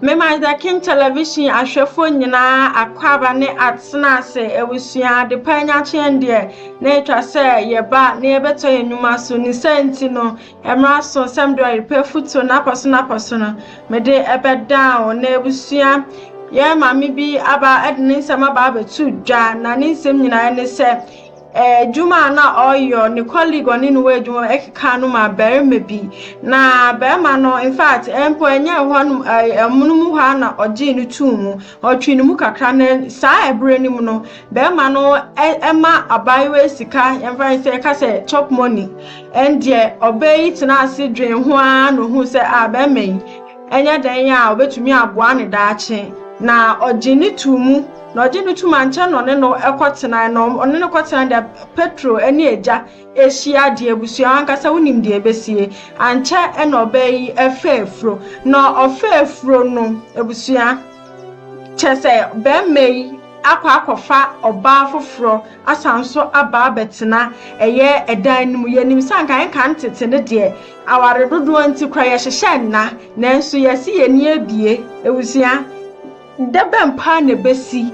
Mema The King Television ahwɛfoɔ nyinaa akwaaba ne atena ase awusua adepa anyakyeɛ deɛ na ɛtwa sɛ yɛba na yɛbɛtɔ yɛn nnwuma so ne sɛ nti no mmara so nsɛm deɛ ɔyɛ pɛ futuo n'apɔso n'apɔso no mede ɛbɛdaa wo na abusua yɛn maame bi aba de ne nsɛm aba abɛto dwa na ne nsɛm nyinaa ne sɛ Edwuma a nna ɔyɔ, no colleague ɔnye no wɔ edwuma mu kekaa no maa barima bi, na barima no, in fact, mpo nnyɛ hɔ no ɛmono mu hɔ ara na ɔgyee no too mu. Ɔtwee no mu kakra, na saa bere no mu no, barima no ma abaayewa yi sika, yɛmfa no sɛ yɛka sɛ chop money. Ɛndeɛ, ɔbaa yi tenaa ase dwee ho ara na ohuu sɛ, ah, barima yi, ɛnyɛ dɛn a obetumi aboa no daakye, na ɔgyee no too mu. Na ɔgye no tum ankyɛ na ɔne no kɔtenae, na ɔne no kɔtenae dɛ Petro ne Egya ehyia dze ebusua. Wankasa wonyim dza ebesie. Ankyɛ na ɔbaa yi faa efuro. Na ɔfaa efuro no, ebusua, kyerɛ sɛ bɛrima yi akɔ akɔfa ɔbaa foforɔ asan nso aba abɛtena ɛyɛ ɛdan no mu. Yɛnim sɛ anka nka ne tete no deɛ aware dodoɔ nti koraa yɛhyehyɛ nna, nanso yɛse yɛn ani abue. Ebusua. Da bɛn paa na ebesi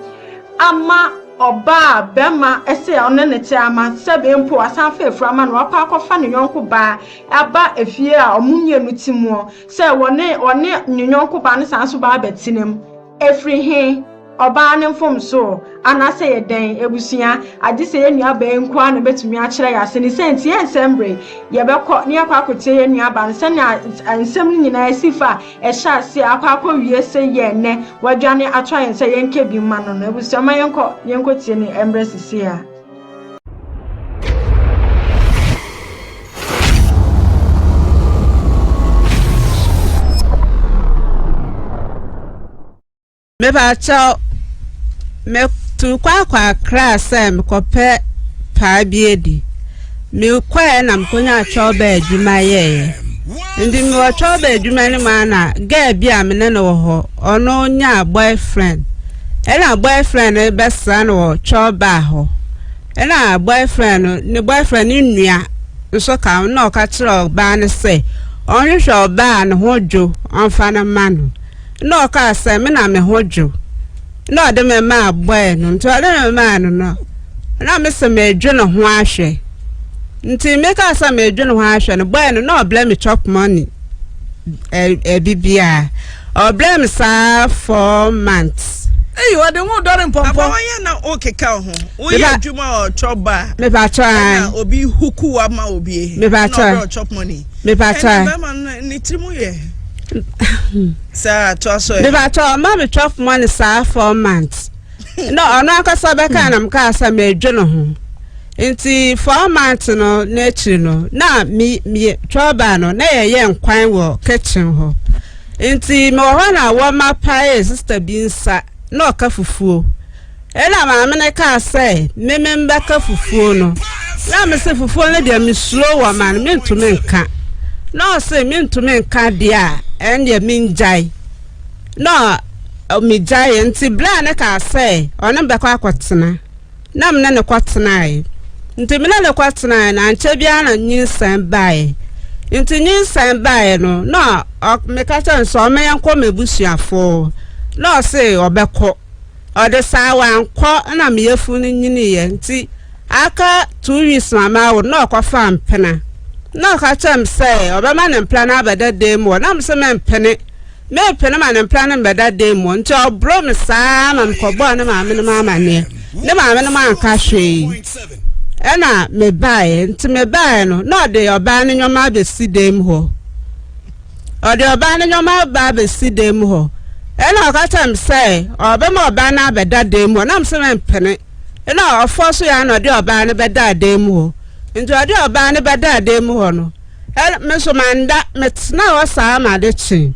ama ɔbaa a bɛrima se ɔne no te ama sɛ bee mpo wasan afa afuru ama no wapa akɔfa ne yɔnko baa aba efie a ɔmo mmienu te muɔ sɛ wɔne ɔne ne yɔnko baa no san so baa bɛtena mu? Efiri he? Ɔbaa no mfomsoo anaa sɛ yɛ dɛn? Abusua, agye sɛ yɛn nua baa yi nko ara na obetumi akyerɛ yɛ ase. Ne sɛ nti, yɛnsɛ mmere. Yɛbɛkɔ na yɛakɔ akotie yɛn nua baa no sɛnea nsɛm no nyinaa si fa Ɛhyɛ aseɛ akɔ akɔ wie se yɛ nnɛ wadwane ato ayɛn sɛ yɛn kɛ bi mma no no abusua mma yɛn kɔ yɛn kɔ tie ne ɛmbrɛ sisei a. Mepakyɛw, metu kɔ akɔ Accra sɛ mekɔpɛ paa bi adi. Mekɔɛ na mekonyaa chɔlba adwuma yɛeɛ. Nti mewɔ chɔlba adwuma no mu a na girl bi a me ne no wɔ hɔ, ɔno nyaa boyfriend. Ɛna boyfriend no bɛsra no wɔ chɔlba hɔ. Ɛna boyfriend no, ne boyfriend no nua nso ka ho na ɔka kyerɛ ɔbaa no sɛ ɔnhwehwɛ ɔbaa a ne ho dwo ɔmfa no mma no. Nna ɔkaa sɛ, Me na me ho dwo. Nna ɔde me maa bɔe no. Nti ɔde me maa no no, na me se medwe ne ho ahwɛ. Nti mekaa sɛ medwe ne ho ahwɛ no, bɔe no, na ɔblɛ me chop money, ɛbibiaa. Ɔblɛ me saa four months. Eyi ɔde ho dɔre mpɔmpɔ. Aba wɔyɛ na o keka ho. O yɛ adwuma ɔ chop ba. Me pa chɔ an. Ɛna obi huku wa ma obi. Me pa chɔ. Ɛna ɔbɛ ɔ chop money. Me pa chɔ. Ɛna bɛma ne tiri mu yɛ. saa to aso ɛ. bibatɔ ɔma mi twelve months saa four months na ɔno ankasa bɛka na mka sɛ mɛdwe no ho nti four months no n'akyiri no na mi mi twelve no na yɛyɛ nkwan wɔ kitchen hɔ nti mewɔ hɔ na wɔma pae sista bi nsa na ɔka fufuo. Ɛnna maame no kaa sɛ, Me me mbɛka fufuo no. Na me se, Fufuo no deɛ mesuro wɔ ma no, mentumi nka. Na ɔse, Mentumi nka deɛ a, ɛnneɛ mengyae. Na megyaeɛ. Nti berɛ a ne kaa sɛ ɔne mbɛkɔ akɔtena, na me ne ne kɔtenaeɛ. Nti me ne ne kɔtenaeɛ no, ankyɛ biara na nyinsɛn baeɛ. Nti nyinsɛn baeɛ no, na meka kyerɛ no sɛ ɔmmɛyɛ nkɔ m'abusuafoɔ. Na ɔse ɔbɛkɔ. Ɔde saa wankɔ na me yafunu no nyiniiɛ nti aka two weeks ma mawo no na ɔkɔfaa mpena na ɔka kyerɛɛ me sɛ ɔbɛma ne mpena no abɛda dan mu hɔ na me se mempene mempene ma ne mpena no mbɛda dan mu hɔ nti ɔboro me saa ma mekɔbɔɔ ne maame no mu amanneɛ ne maame no mu anka hwee ɛna mebaeɛ nti mebaeɛ no na ɔde ɔbaa no nneɛma abɛsi dan mu hɔ Ɔde ɔbaa no nneɛma ba bɛsi dan mu hɔ, ɛna ɔka kyerɛ me sɛ ɔbɛma ɔbaa no abɛda dan mu hɔ, na mesɛ mempene, ɛna ɔfɔ so yɛ a na ɔde ɔbaa no bɛdaa dan mu hɔ, nti ɔde ɔbaa no bɛdaa dan mu hɔ no, me nso manda, metenaa hɔ saa ma ade kyee,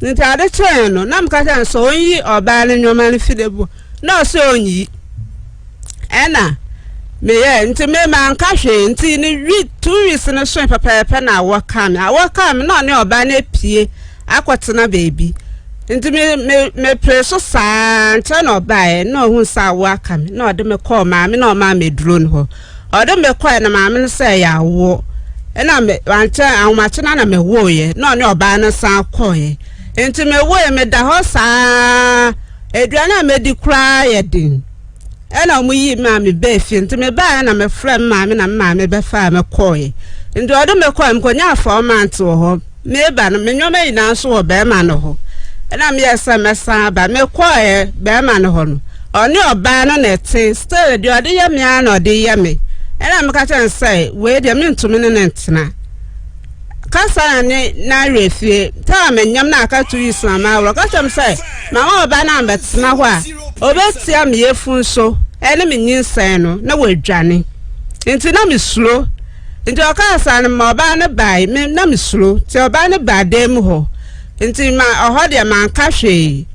nti ade kyee no, na meka kyerɛ no sɛ ɔnyi ɔbaa no nneɛma no fi dan mu hɔ. Na ɔse ɔnyi. Ɛna me yɛɛ, nti me ma nka hwee, nti ne wi, two weeks no soe pɛpɛɛpɛ na awɔ kaa me, awɔ kaa me na ɔne ɔbaa no apue akɔ tena baabi, nti me, me, me pere so saa nkyɛn na ɔbaeɛ, na ɔhuu sɛ awɔ aka me, na ɔde me kɔɔ maame na ɔmaa me aduro no hɔ, ɔde me kɔɛ na maame no sɛ ɛyɛ awɔ, ɛna me, ankyɛ, ahomakye na na me wɔeɛ, na ɔne ɔbaa no san kɔeɛ, nti me wɔeɛ, me da hɔ saa, Aduane a mɛdi koraa yɛ den. Ɛna wɔn yii me a me baa fie. Nti me baa yɛ na me frɛ me maame na me maame bɛ faa me kɔɔ yɛ. Nti ɔde me kɔɔ yɛ me kɔ nyaa four months wɔ hɔ. Me ba no me nneɛma nyinaa nso wɔ bɛɛma no hɔ. Ɛna me yɛ sɛ mɛ san aba. Me kɔɔ yɛ bɛɛma no hɔ no. Ɔne ɔbaa no na ɛte. Still deɛ ɔde yɛ me ara na ɔde yɛ me. Ɛna me ka kyerɛ no sɛ wei deɛ me ntumi ne no ntena. kasa na ne n'awerɛ fie ta a menyam na aka to yi soma ma aworɔ ka kyerɛ me sɛ ma wo ɔba no ambɛtena hɔ a ɔbɛtia me yafunu so ɛne me nyinsɛn no na wadwane nti na mesuro nti ɔkaa saa no ma ɔbaa no bae me na mesuro nti ɔbaa no baa dan mu hɔ nti ma ɔhɔ deɛ manka hwee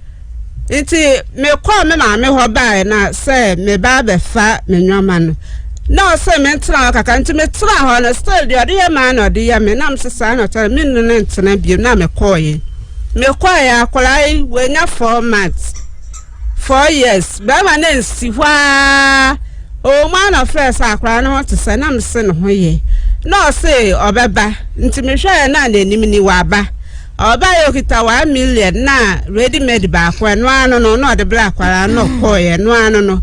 Nti mekɔɔ me maame hɔ baeɛ na sɛ meba abɛfa me nneɛma no, na ɔse mentena hɔ kakra. Nti metenaa hɔ no, still deɛ ɔde yɛ maa na ɔde yɛ me. Na mese saa na ɔkyɛ no, menne no ntena bio na mekɔɔye. Mekɔɔye akwadaa yi, wanya four months, four years. Bɛrima no ansi hɔ ara, ɔwɔ mu ara na ɔfrɛɛ sɛ akwadaa no ho te sɛ, na mese ne ho ye. Na ɔse ɔbɛba, nti mehwɛɛ na n'anim ni, waba. Ɔbae okita one million na ready made baako ɛno ara no no na ɔde brɛ akwadaa no na ɔkɔɔeɛ ɛno ara no no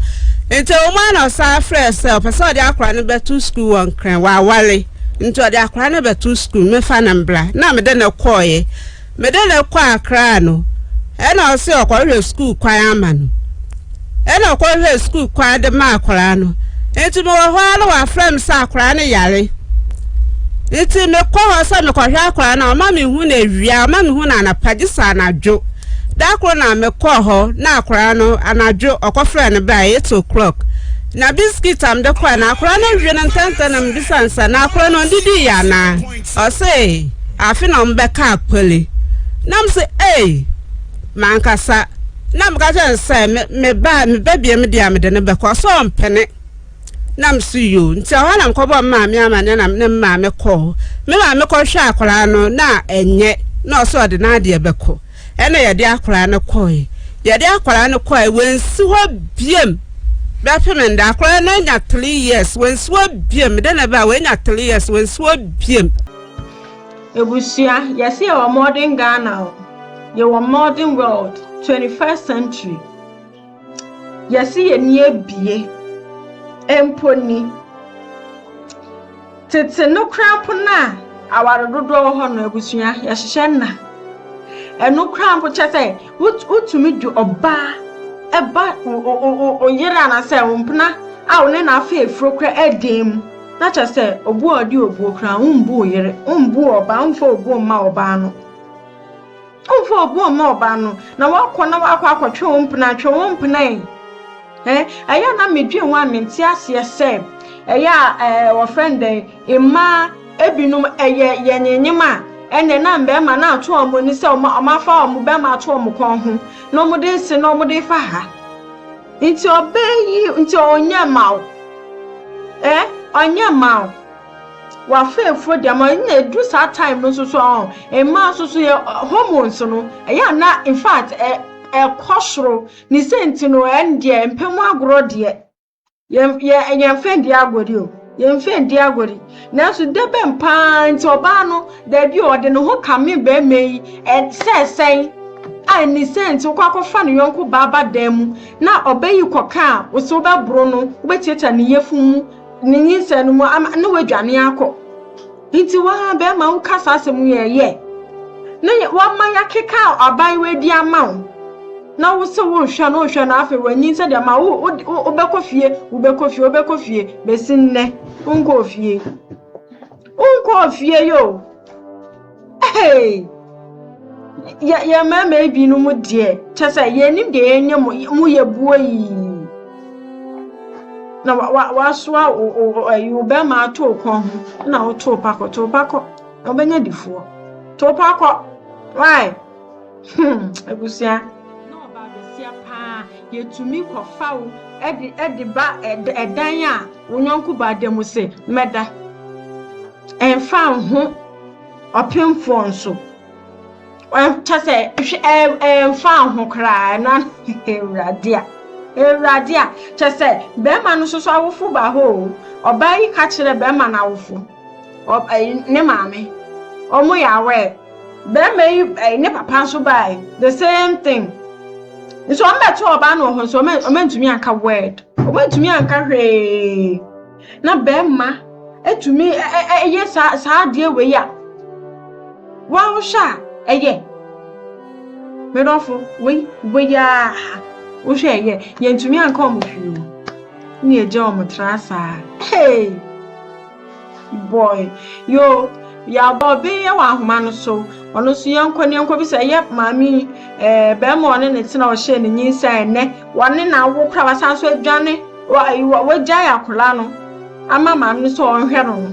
nti wɔn ara na ɔsan frɛɛ sɛ ɔpɛ sɛ ɔde akwadaa no bɛto sukuu wɔ Nkran waware nti ɔde akwadaa no bɛto sukuu mefa no mbra na mede no kɔɔeɛ mede no kɔɔ Akra no ɛna ɔse ɔkɔhwehwɛ sukuu kwan ama no Ɛna ɔkɔhwehwɛɛ sukuu kwan de maa akwadaa no. Nti mewɔ hɔ ara na wɔafrɛ me sɛ akwadaa no yare. Nti mekɔ hɔ sɛ mekɔhwɛ akwadaa no a, ɔma mehu no awia, ɔma mehu no anapa, gye sɛ anadwo. Da koro na mekɔɔ hɔ na akwadaa no anadwo ɔkɔfrɛ no baa eight o'clock. Na biskit a mede kɔe no, akwadaa no awie no ntɛntɛm na mebisa no sɛ, na akwadaa no ɔndidii yɛ anaa? Ɔse, afe na wɔbɛka akpali. Na mese, ei! M'ankasa na meka kyerɛ no sɛ me me ba me ba biam deɛ a mede no bɛkɔ ɔsɛ ɔmpene na me so yoo nti ɛhɔ na mekɔbɔ me maame amaneɛ na ne maame kɔɔ me maame kɔhwɛ akwaraa no na ɛnyɛ na ɔsɛ ɔde n'adeɛ bɛkɔ ɛna yɛde akwaraa no kɔe yɛde akwaraa no kɔe wɔnsi hɔ biam bɛpem nda akwaraa no anya three years wɔnsi hɔ biam de ne ba wɔanya three years wɔnsi hɔ biam Ebusua, yɛse yɛwɔ modern Ghana o, yɛwɔ modern world, 21st century. Yɛse yɛni abie, mpo ni. Tete no koraa mpo no a aware dodoɔ wɔ hɔ no abusua, yɛhyehyɛ nna. Ɛno koraa mpo kyɛ sɛ wotumi de ɔbaa ɛba oyere anaasɛ mpena a wo ne no afa afuro koraa ɛdan mu. Na kyerɛ sɛ, obu a ɔde obuo kura, wombu wo yere, wombu wo ɔbaa, womfa obuo mma ɔbaa no. Womfa obuo mma ɔbaa no, na woakɔ na woakɔ akɔtwe wo mpena, atwe wo mpena yi. Eh, ɛyɛ a na medwen ho a mente aseɛ sɛ, ɛyɛ a eh, wɔfrɛ no dɛn, mmaa ebinom ɛyɛ yɛnyenyem a, ɛnɛ na mmarima na ato wɔn ani sɛ wɔn afa wɔn bɛrima ato wɔn kɔn ho, na wɔde nse na wɔde fa ha. Nti ɔbaa yi nti ɔnyɛ ma wo eh ɔnyɛ ma wo wafeefo deɛ ma na edu saa time no nso so ɔn mmaa nso so yɛ hormones no ɛyɛ ana in fact ɛ ɛkɔ soro ne sɛ nti no ɛn deɛ mpɛ mu agorɔ deɛ yɛn yɛn yɛn fɛn deɛ agorɔ deɛ o. Yɛmfa ndi agore, nanso dɛ bɛn paa ntsi ɔbaa no, dabi o, ɔdze noho ka me barima yi sɛ sɛn a nni sɛ ntsi wokɔ akɔfa no yɔnko baa ba dan mu na ɔba yi kɔ kã a, wo se wobɛboro no, wobɛtsiatsia ne yafun mu, ne nyinsɛn no mu ama na oedwane akɔ. Nti woaa bɛɛma wo ka saa asɛm yi ɛ? Yɛ na yɛ wama yakeka aban wei de ama wo na wo se wo nhwɛ no nhwɛ no afei wanyin sɛ deɛ ma wo wo wo wobɛkɔ fie wobɛkɔ fie wobɛkɔ fie besi nnɛ wo nkɔɔ fie wo nkɔɔ fie yoo. Hey! Yɛ yɛ mmarima ebinom deɛ kyɛ sɛ yɛnim deɛ yɛnyɛ mo mo yɛ buo yii. Na wa wa wasoa wo wo ayi wo bɛrima ato wo kɔn ho na woto pa kɔ to pa kɔ na wobɛnya difoɔ to pa kɔ why hmm abusua. na ɔbaa bɛsia paa yɛtumi kɔfa wo ɛde ɛde ba ɛdan a wo yɔnko baa da mu se mɛda ɛmfa ho. Ɔpemfoɔ nso, kyɛ sɛ ɛmfa ho koraa na Awurade a, Awurade a, kyɛ sɛ bɛrima no nso awofo ba hɔ o, ɔbaa yi ka kyerɛ bɛrima no awofo, ne maame, wɔn yɛ aware, bɛrima yi ne papa nso baae, the same thing. Nso wɔn bɛto ɔbaa no wɔ hɔ nso wɔn antumi anka word, wɔn antumi anka hwee. Na bɛɛma atumi yɛ saa saa adeɛ wei a, waa wohwɛ a ɛyɛ? Me dɔfo, wei wei aa wohwɛ ɛyɛ? Yɛntumi anka ɔmo hwee o, ne yɛgya ɔmo tra saa. Hey! Boy, yoo, yɛabɔ ɔbee yɛ wɔ ahoma no so, ɔno nso yɛnkɔ ne yɛnkɔ bisa, ɛyɛ maame yi, ɛɛ bɛɛma ɔne ne tena ɔhyɛɛ ne nyinsɛn a ɛnɛ wɔne na awo koraa wasan so adwane. Wagyae akwadaa no ama maame no sɛ ɔnhwɛ no no,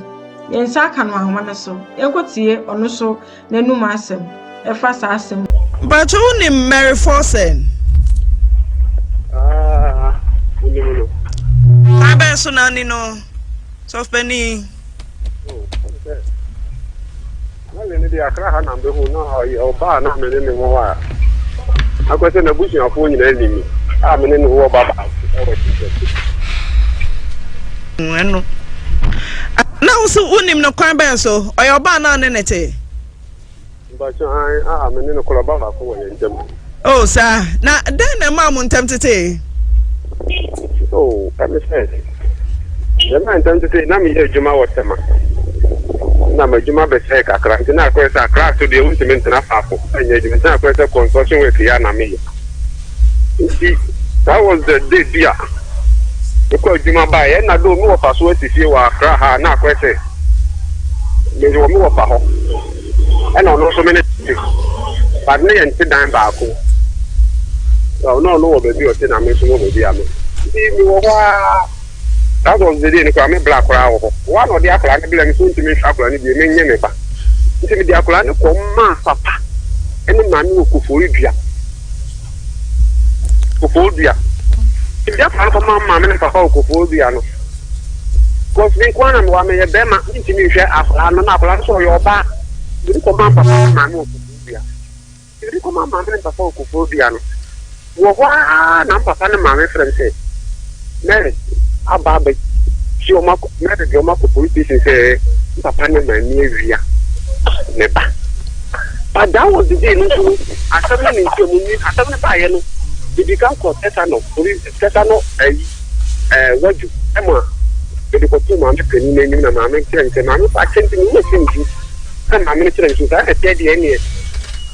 yɛn nsa aka no ahoma no so. Yɛnkɔtie ɔno nso n'anom asɛm ɛfa saa asɛm no. Mpakyɛ wonim Mary Forsen? Ah, wonim no. Kwan bɛn so na ani no, sɔfpani? Na me no deɛ akra ha na mbehu na ɔyɛ ɔbaa na me ne ne wɔ a akɔ sɛ n'abusuafoɔ nyinaa nim me a me ne ne wɔ ba baako ɛwɔ Jesus. Ɛno na wo so wonim no kwan bɛn so ɔyɛ ɔbaa na ne ne te. Mpakyɛ an a me ne ne korɔ ba baako wɔ yɛn ntam. Oh, saa. Na dɛn na ɛmaa mo ntam tetee? Oh, ɛne sɛ, yɛmaa ntam tetee, na meyɛ adwuma wɔ Tema. Na m'adwuma bɛsɛe kakra, nti na akɔyɛ sɛ Accra so deɛ wontumi ntena faako nyɛ adwuma, nti na akɔyɛ sɛ construction work yi a na meyɛ. Nti, that was the day bi a mekɔ adwuma baeɛ, ɛna do mewɔ fa so asi fie wɔ Accra ha, na akɔyɛ sɛ mewɔ me wɔ fa hɔ. ɛna ɔno nso me ne te but ne yɛnte dan baako na ɔno ɔno wɔ baabi ɔte na me nso wɔ baabi a me nti mewɔ hɔ ara that was the day no koraa me bla koraa wɔ hɔ woa na ɔde akora ne bla me so ntumi nhwɛ akora ne bie menyɛ ne ba nti mede akora ne kɔm maa papa ɛne maame wɔ kofori dua kɔkɔɔ dua ebi afa no kɔma maame ne papa wɔ kɔkɔɔ dua no kɔs me nkoa na mewɔ meyɛ bɛrima mentumi nhwɛ akwadaa no na akwadaa no sɛ ɔyɛ ɔbaa ebi kɔma papa ne maame wɔ kɔkɔɔ dua ebi kɔma maame ne papa wɔ kɔkɔɔ dua no wɔ hɔ ara na papa ne maame frɛ m sɛ Mary aba abɛ gye wɔn akɔ Mary de wɔn akɔ police station sɛ n papa ne maame awia ne ba but that was the day no nso no asɛm no ne nti ɔmo nwi asɛm no baayɛ no ebi kan kɔ tɛsanɔ police tɛsanɔ ayi ɛɛ wadu ɛma ebi kɔ to maame panyin n'anim na maame kyerɛ nsɛ maame fa akyɛ nti mo yɛ sɛ nsu sɛ maame no kyerɛ nsu saa na ɛtɛ deɛ ɛneɛ.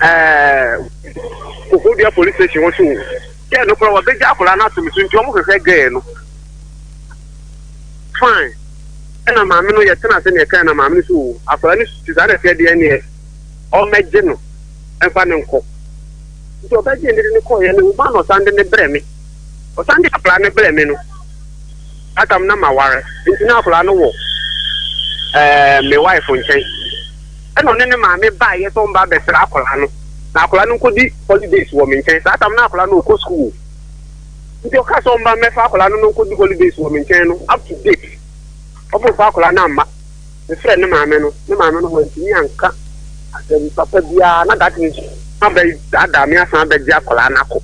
ɛɛ kokodua police station wɔn so o gɛɛ no koraa wɔbɛgya akwadaa no ato me so nti wɔn hwehwɛ gɛɛ no fine ɛna maame no yɛtena ase na yɛka na maame no so o akwadaa no si saa na ɛsɛ deɛ neɛ ɔmɛgye no ɛmfa ne nkɔ nti ɔbɛgye ne de ne kɔɔyɛ no ma na ɔsan de ne brɛ me ɔsan de akwadaa no brɛ me no atam na ma ware nti na akwadaa no wɔ ɛɛ me wife nkyɛn. Ɛna ɔne ne maame baeɛ sɛ ɔmba abɛsra akwadaa no na akwadaa no nkɔdi holidays wɔ me nkyɛn. Saa tam no na akwadaa no ɔkɔ sukuu. Nti ɔkaa sɛ ɔmba mmɛfa akwadaa no na ɔnkɔdi holidays wɔ me nkyɛn no up to date ɔmfa akwadaa no amma. Mefrɛɛ ne maame no, ne maame no wantumi anka asɛm papa biara na that means wɔabɛdaadaa me asan abɛgye akwadaa no akɔ.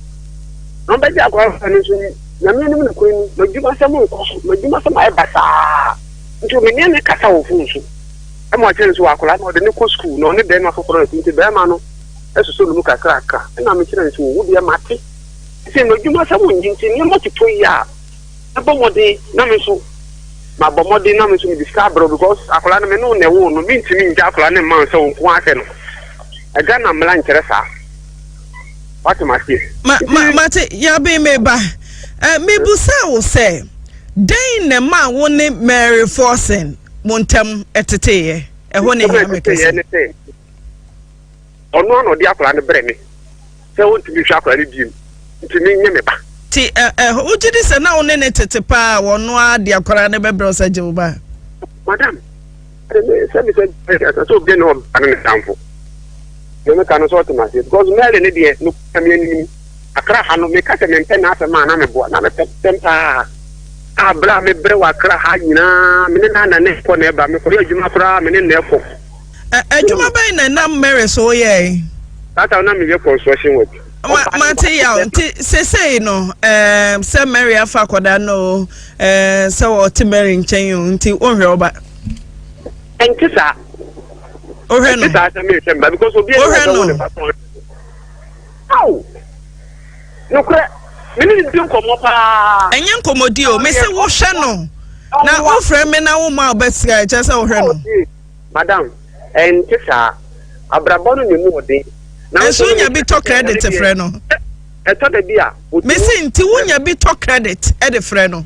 Na ɔbɛgye akwadaa no nso Nyame anim nokorɛ ni, m'adwumasɛm nkɔ so, m'adwumasɛm ayɛ basaa nti meneɛ no kasa wɔ phone so. ɛma ɔkyerɛ nso akwadaa no ɔde ne kɔ sukuu na ɔne bɛrima foforɔ no nti bɛrima no ɛsoso ne mu kakrakra ɛna mekyerɛ nso wo deɛ mate sɛ m'adwuma sɛ wonyi nti nneɛma toto yi a ɛbɔ mmɔden na me nso mabɔ mmɔden na me nso mede sika abrɛ because akwadaa no me ne wo na ɛwoo no mentumi ngya akwadaa no mma sɛ wo nko ahwɛ no ɛga na mmara nkyerɛ saa wate maseɛ ma ma mate yabe meba eh, mebusa wo sɛ dɛn na ma wo ne mary forsen mo ntam teteeɛ. Ɛhɔ na ɛhia me kɛse. Ɔno ano ɔde akwadaa no brɛ me sɛ ɔntumi nhwɛ akwadaa no biem nti ne nyɛ me ba. Ti ɛ ɛ wogye di sɛ na wo ne ne tete paa wɔno ara de akwadaa no bɛbrɛ sɛ gye wo ba. Madam, sɛ me sɛ sɛ obi ne ɔba no ne tamfo. Deɛ meka no sɛ ɔte m'aseɛ because Mary ne deɛ no kura me anim akra ha no meka sɛ mempɛ n'asɛm a na meboa na mepɛ sɛm paa a berɛ a mebrɛ wɔ akra ha nyinaa me ne na na ne kɔ na ɛba mekɔyɛ adwuma koraa me ne na ɛkɔ. Adwuma bɛn na nam Mary so woyɛe? Saa ta na meyɛ construction work. Ma mate yaw nti sesei no ɛɛ sɛ Mary afa akɔda no ɛɛ sɛ ɔte Mary nkyɛn o nti wonhwɛ ɔba. Ɛnte saa. wohwɛ no wohwɛ no aw nokorɛ mene ne di nkɔmmɔ paa ɛnyɛ nkɔmmɔdi o mese wohwɛ no na wofrɛ me na woma wobɛsika ɛkyɛ sɛ wohwɛ no madam ɛnte saa abrabɔ no ne mu ɔden nanso wonya bi tɔ credit frɛ no ɛtɔ da bi a mese nti wonya bi tɔ credit ɛde frɛ no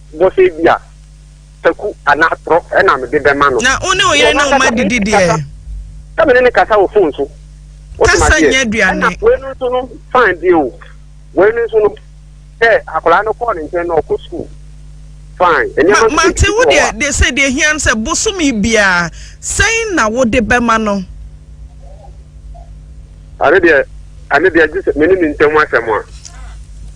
bɔ sɛ ebia taku anaa atorɔ na mede bɛma no. Na wo ne wo yere ne wo mma didi deɛ. Sɛ me ne no kasa wɔ fon so. Kasa nyɛ aduane. Ɛna wei no nso no fine deɛ o. Wei no nso no sɛ akwadaa no kɔɔ ne nkyɛn na ɔkɔ sukuu. Ma mate wo deɛ deɛ sɛ deɛ hia no sɛ bosome biara sɛn na wode bɛma no. Ɛno deɛ, ɛno deɛ gye sɛ me ne ne ntam asɛm a.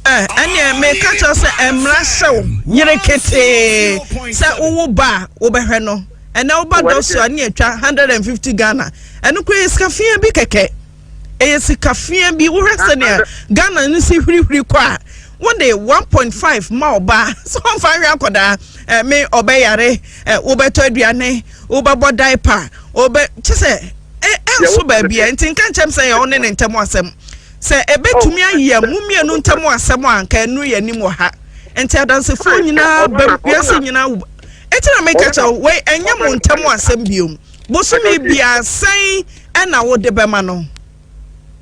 Eh, ɛneɛ meka kyerɛ sɛ ɛmmra sɛ wo yere ketee sɛ wowo ba a wobɛhwɛ no. Ɛnɛ woba dɔ so a ne atwa 150 Ghana. Ɛno koraa yɛ sika fia bi kɛkɛ. Ɛyɛ sika fia bi. Wohwɛ sɛnea Ghana no si hwirihwiri kɔ a wode 1.5 ma ɔbaa sɛ ɔmfa nhwɛ akɔdaa eh, me ɔbɛyare eh, wobɛtɔ aduane Wobɛbɔ diaper a, ɔbɛ, kyɛ sɛ, ɛ, ɛnso baabi ɛ, nti nka nkyɛm sɛ yɛ wo ne ne ntam asɛm. Sɛ ɛbɛtumi oh, ayɛ mo mmienu ntam asɛm a, nka ɛnu yɛ anim wɔ ha. Nti adansefoɔ nyinaa bɛm, wiase nyinaa wo. Eti na meka kyɛ wo, wei ɛnyɛ mo ntam asɛm biom. Bosome biara sɛn ɛna wode bɛma no.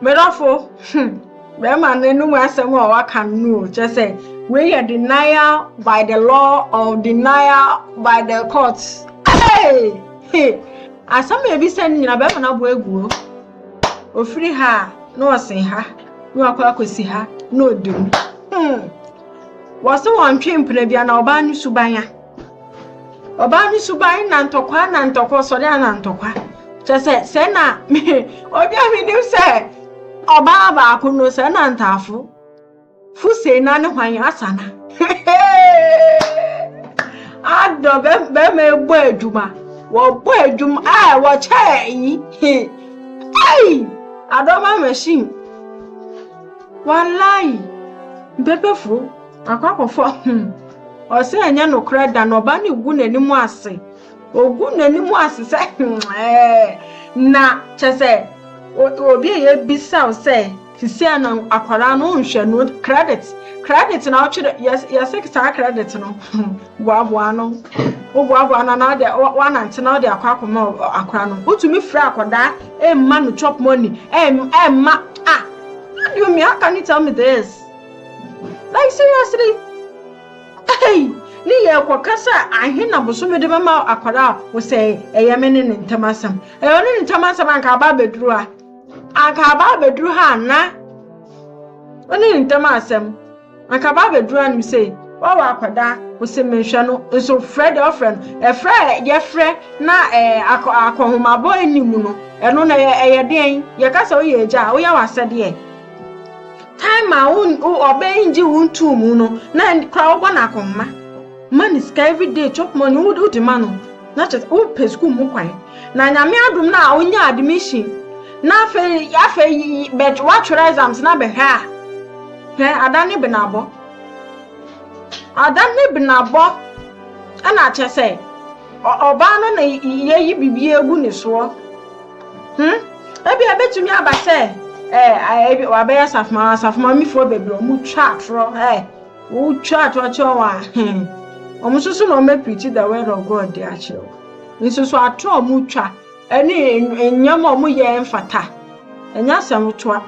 Me dɔfo, hmm, bɛrima no anum asɛm a waka no no o, kyerɛ sɛ wei yɛ denial by the law or denial by the court. Hey! Hey! Asɛm a ebisa no nyina bɛrima no aboa agu o. Ofiri ha a, na ɔsen ha, na wakɔ akɔsi ha, na ɔda mu. Hmm. Wɔse wɔntwe mpena bi a na ɔbaa no suban a. Ɔbaa no suban na ntɔkwa na ntɔkwa ɔsɔre a na ntɔkwa kyɛ sɛ sɛ na me obi a menim sɛ ɔbaa baako no sɛ na ntaafo fo sei na ne hwan asana adɔ bɛma ɛbɔ adwuma wɔbɔ adwuma a wɔkyɛ yi ei adɔma machine wallahi mpɛpɛfoɔ Akwakɔfɔ hmm. Ɔsɛ ɛnyɛ nokorɛ da na ɔba no gu n'anim ase. Ɔgu n'anim ase sɛ hmm ɛɛ. Na kyɛ sɛ obi a yɛbisa wo sɛ sisi a na akwadaa no nhwɛ no credit credit na ɔtwerɛ yɛsɛ saa credit no boaboa no woboaboa no anaa deɛ wanante na wode akɔ akɔma akora no wotumi frɛ akwadaa ɛmma no chop money ɛmma ah you me how can you tell me this Like seriously? Hey! Ne yɛ kɔka sɛ ahe na bosome de bɛma akwadaa a wosɛe ɛyɛ me ne ne ntam asɛm. Ɛyɛ ɔne ne ntam asɛm anka aba abɛduru ha. Anka aba abɛduru ha na ɔne ne ntam asɛm. Anka aba abɛduru ha nom sɛ wawa akwadaa ɔsɛ menhwɛ no nso frɛ deɛ ɔfrɛ no. Ɛfrɛ yɛfrɛ na akɔ akɔhomabɔ anim no ɛno na ɛyɛ deɛn? Yɛka sɛ woyɛ agya a woyɛ w'asɛdeɛ. Time a wo ɔbɛn ngye wo ntu mu no na kora wobɔ no akɔnma ma ne sika everyday chop money wo wode ma no na kyɛ sɛ wopɛ sukuu mu kwan na nyame adom no a wonya admission na afei afei bɛ woatwerɛ exams na bɛhwɛ a hwɛ ada ne benabɔ ada ne benabɔ ɛna kyɛ sɛ ɔbaa no na yɛyi biribi agu ne soɔ Hmm? Ebia ebetumi aba sɛ ɛɛ eh, wabɛyɛ asafoma asafoma mifoɔ bebree wɔn twa atorɔ ɛɛ eh, wɔn twa atorɔ kyerɛ wɔn a hmm wɔn nso so na wɔn apirikyi the word of God de akyerɛ wɔn nso so atorɔ wɔn twa ɛne nneɛma a wɔn yɛ mfata ɛnyɛ asɛm toa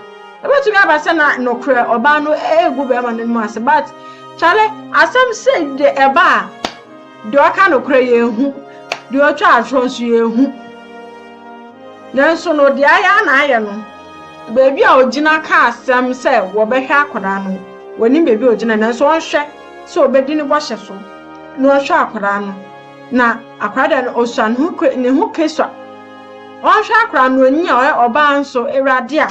ebetumi aba sɛ na nokorɛ ɔbaa no ɛɛgu bɛrima no mu ase but kyale asɛm sɛ de ɛba a. Deɛ ɔka nokorɛ yɛnhu, deɛ ɔtwa atorɔ nso yɛnhu. Nanso no, deɛ ayɛ ara na ayɛ no. Baabi a ɔgyina ka asɛm sɛ wɔbɛhwɛ akwadaa no, wɔnim baabi a ɔgyina, nanso ɔnhwɛ sɛ ɔbɛdi ne bɔhyɛ so na ɔhwɛ akwadaa no. Na akwadaa deɛ no ɔsua ne ho kwe, ne ho kesua. Ɔnhwɛ akwadaa no, ɔnyi a ɔyɛ ɔbaa nso, Awurade a.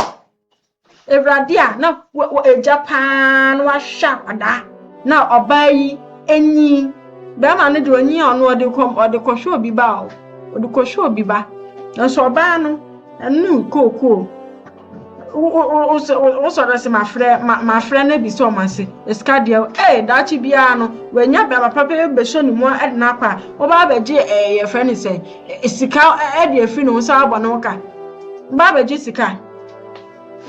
Awurade a na w'agya paa no ahwɛ akwadaa na ɔbaa yi enyin. Bɛrima no deɛ onyin a ɔno ɔde kɔ ɔde kɔhwɛ obi ba o, ɔde kɔhwɛ obi ba. Nanso ɔbaa no ɛnu kookoo. Wosɔre se mafrɛ mafrɛ no ebisa ɔmo ase esika deɛ ee daakye biara no w'anya bɛrima papa bi bɛhyɛ ne mu ɛde no akɔ a ɔba abɛgye ɛɛ yɛfrɛ ne sɛ sika ɛde afiri ne ho san abɔ ne ho ka. Ɔba abɛgye sika.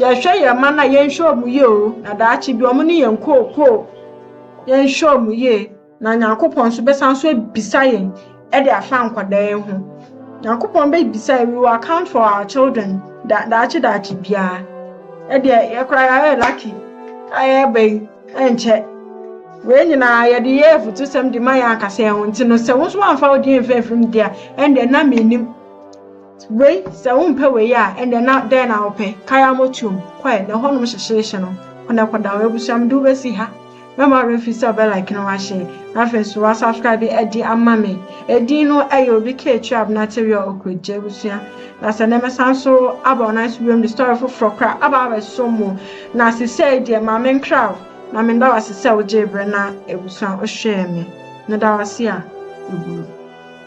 Yɛhwɛ yɛn mma no a, yɛnhwɛ wɔn yie o, na daakye bi wɔn ne yɛn kookoo. Yɛnhwɛ wɔn yie, na Nyankopɔn nso bɛsan so abisa yɛn de afa nkwadaa yi ho. Nyankopɔn bɛbisa yɛn, we will account for our children da daakye daakye biara. Ɛdeɛ yɛ koraa yɛayɛ lucky a yɛreba yi, ɛnkyɛ. Wei nyinaa yɛde yɛ afutusɛm de ma yɛn ankasa yɛn ho nti no, sɛ wo nso woamfa wo deɛ amfiri mfirim deɛ a, ɛnde na mennim. Wei, sɛ wompɛ wei a, ɛnneɛ na dɛn na wopɛ? Kae ara motuom kɔe, na ɛhɔnom hyehyeehye no, kɔ na kɔda hɔ. Abusua, mede wo bɛsi ha. Mɛma wo werɛ afiri sɛ wobɛlike no wahyɛ, na afei nso woasubscribe adi ama me. Edin no yɛ Obi Ketch a Abena Terry a Okwegye. Abusua, na sɛ nnɛ mɛsan nso aba wo nan so bio mede story foforɔ koraa aba abɛsom mo. Na seesei deɛ, ma menkra wo, na meda wo ase sɛ wogyee berɛ na abusua wohwɛɛ me. Meda wo ase a ɛbuo.